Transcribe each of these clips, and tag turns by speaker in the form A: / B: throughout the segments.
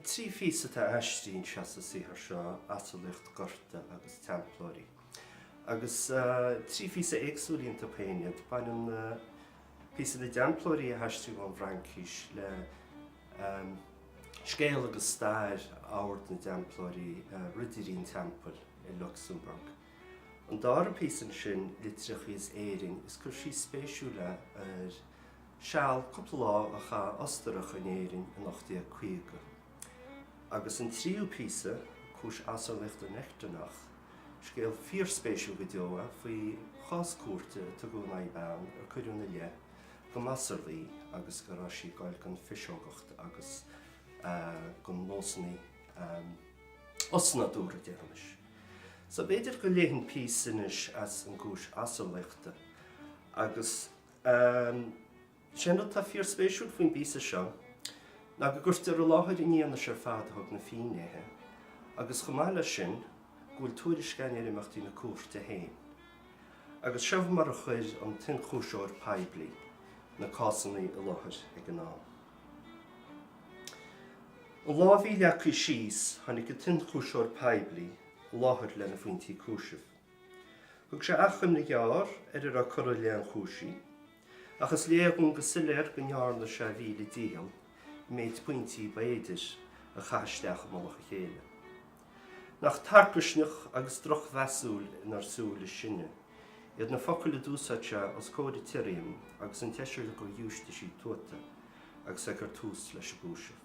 A: Trí phíosa atá aistrithe anseo sa saothar seo, Asarlaíocht Gorta agus Teamplóirí. Agus trí phíosa éagsúil iontu féin iad, baineann píosa na dTeamplóirí a haistríodh ón bhFraincis le scéal agus stair Ord na dTeamplóirí, Ridirí an Teampaill, i Lucsamburg. An dara píosa ansin, Litreacha as Éirinn, is cur síos spéisiúil é ar. seal cúpla lá a chaith Ostarach in Éirinn in 1850. Agus an tríú píosa, Cúis Asarlaíochta in Echternach, scéal fíorspéisiúil go deo é faoi chás cúirte a tugadh in aghaidh bean ar cuireadh ina leith go mb'asarlaí í agus go raibh sí ag gabháil den phiseogacht agus de nósanna osnádúrtha, déarfaimis. So b'fhéidir go léifinn píosa anois as an gCúis Asarlaíochta agus. An t-aon rud atá fíorspéisiúil faoin bpíosa seo ná go gcuirtear i láthair an fhianaise ar fad a thug na fínnéithe agus, chomh maith leis sin, go bhfuil tuairisc ann ar imeachtaí na cúirte féin. Agus seo mar a chuir an t-ionchúisitheoir poiblí na cásanna i láthair ag an am. An lá a bhí leagtha síos, tháinig an t-ionchúisitheoir poiblí i láthair lena phointí cúisimh. Thug sé achoimre ghearr ar a raibh curtha i leith an chúisí, ach is léir dúinn go soiléir go ndearna sé a mhíle dícheall méid pointí ba fhéidir a chaitheamh isteach i mullach a chéile. Nach tarcaisneach agus drochmheasúil inár súile sinne iad na focail a d'úsáid sé os comhair an tsirriam agus an tseisir de ghiúistísí tuata agus é ag cur tús leis an gcúiseamh.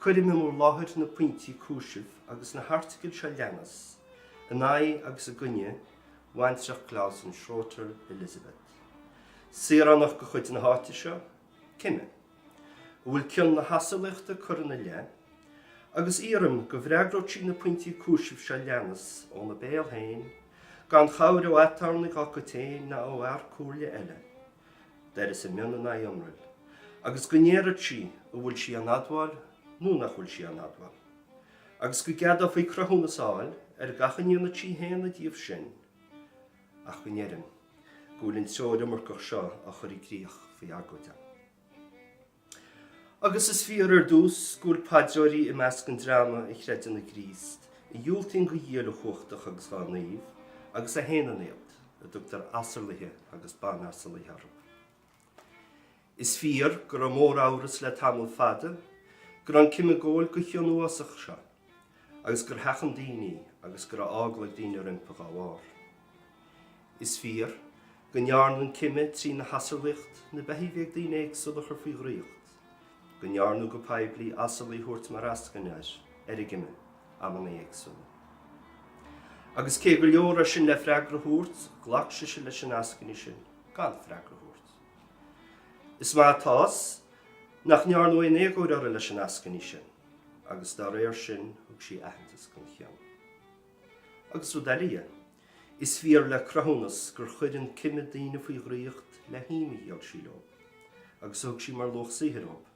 A: Cuirim in bhur láthair na pointí cúisimh agus na hairteagail seo leanas, in aghaidh agus i gcoinne bhaintreach Clausen, Schroeter, Elizabeth. Saoránach de chuid na háite seo, cime, a bhfuil cion na hasarlaíochta curtha ina leith, agus iarraim go bhfreagróidh sí na pointí cúisimh seo leanas óna béal féin, gan chabhair ó aturnae dá cuid féin ná ó fhear comhairle eile, tar éis a mionn in aghaidh iomraill, agus go ndéarfadh sí an bhfuil sí á n-admháil nó nach bhfuil sí á n-admháil, agus go gceadófaí cruthúnas a fháil ar gach a ndéanfaidh sí a shéanadh díobh sin, ach go ndeirim go bhfuil an treoir iomarcach seo á chur i gcrích faoi agóid an. Agus is fíor ar dtús go bhfuil paidreoirí i measc an dreama a chreideann i gCríost, a dhiúltaíonn do Dhia uilechumhachtach agus dá naoimh, agus a shéanann iad, a dtugtar asarlaithe agus banasarlaithe orthu. Is fíor go raibh móramhras le tamall fada go raibh an cime ag gabháil den chion uafásach seo. agus gur sheachain daoine agus go raibh eagla ag daoine roimpi dhá bharr. Is fíor go ndearna an cime trína hasarlaíocht na beithígh a bhí ag daoine éagsúla a chur faoi dhraíocht, go ndearnadh go poiblí asarlaí a thabhairt mar eascaine ar ar an gcime amanna éagsúla. Agus cé gur leor é sin le freagra a thabhairt, ghlac sise leis an eascaine sin gan freagra a thabhairt. Is maith atá's nach ndearnadh aon éagóir uirthi leis an eascaine sin. agus dá réir sin thug sí aitheantas don chion. Agus rud eile dhe, is fíor le cruthúnas gur chuir an cime daoine faoi dhraíocht le him a dhíol sí leo, agus a thug sí mar luach saothair dhóib,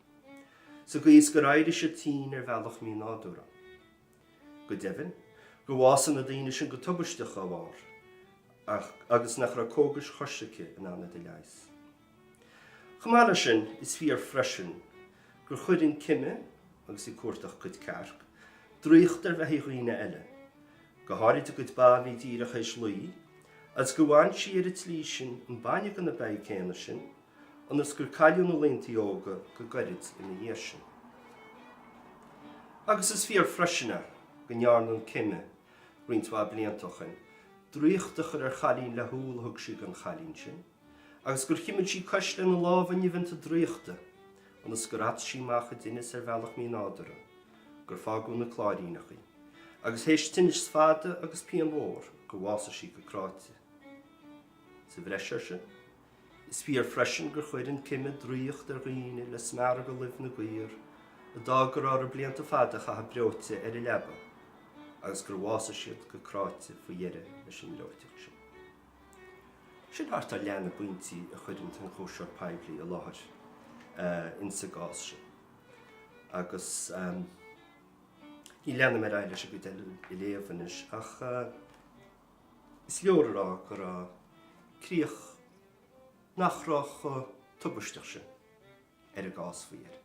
A: sa gcaoi is gur éirigh siad tinn ar bhealach mínádúrtha. Go deimhin, gur bhásaigh na daoine sin go tubaisteach dá bharr, agus nach raibh cógais choisricthe in ann iad a leigheas. Chomh maith leis sin, is fíor freisin gur chuir an cime agus í ag cuartú a cuid cearc, draíocht ar bheithígh dhaoine eile, go háirid a gcuid ba a bhí díreach th'éis lao, agus gur bhain sí ar an tslí sin an bainne de na beithígh céanna sin, ionas gur cailleadh na laontaí óga go goirid ina dhiaidh sin. Agus is fíor freisin a, go ndearna an cime, roinnt mhaith blianta ó shoin, draíocht a chur ar chailín le húll a thug sí don chailín sin, agus gur chuimil sí a cois lena lámha nimheanta draíochta, ionas gur at sí amach i dtinneas ar bhealach mínádúrtha, gur fágadh ina cláiríneach í, agus th'éis tinnis fada agus pian mhór, gur bhásaigh sí go cráite. Sa bhreis air sin, is fíor freisin gur chuir an cime draíocht ar dhaoine le smearadh de luibh na gcaor, a d'fhág go raibh orthu blianta fada a chaitheamh breoite ar a leaba, agus gur bhásaigh siad go cráite faoi dheireadh leis an mbreoiteacht sin. Sin thart ar leath na bpointí a chuir an t-ionchúiseoir poiblí i láthair insa gcás sin, agus ní leanfaidh mé ar aghaidh leis an gcuid eile a léamh anois, ach is leor a rá go raibh críoch nach raibh chomh tubaisteach sin ar an gcás faoi dheireadh.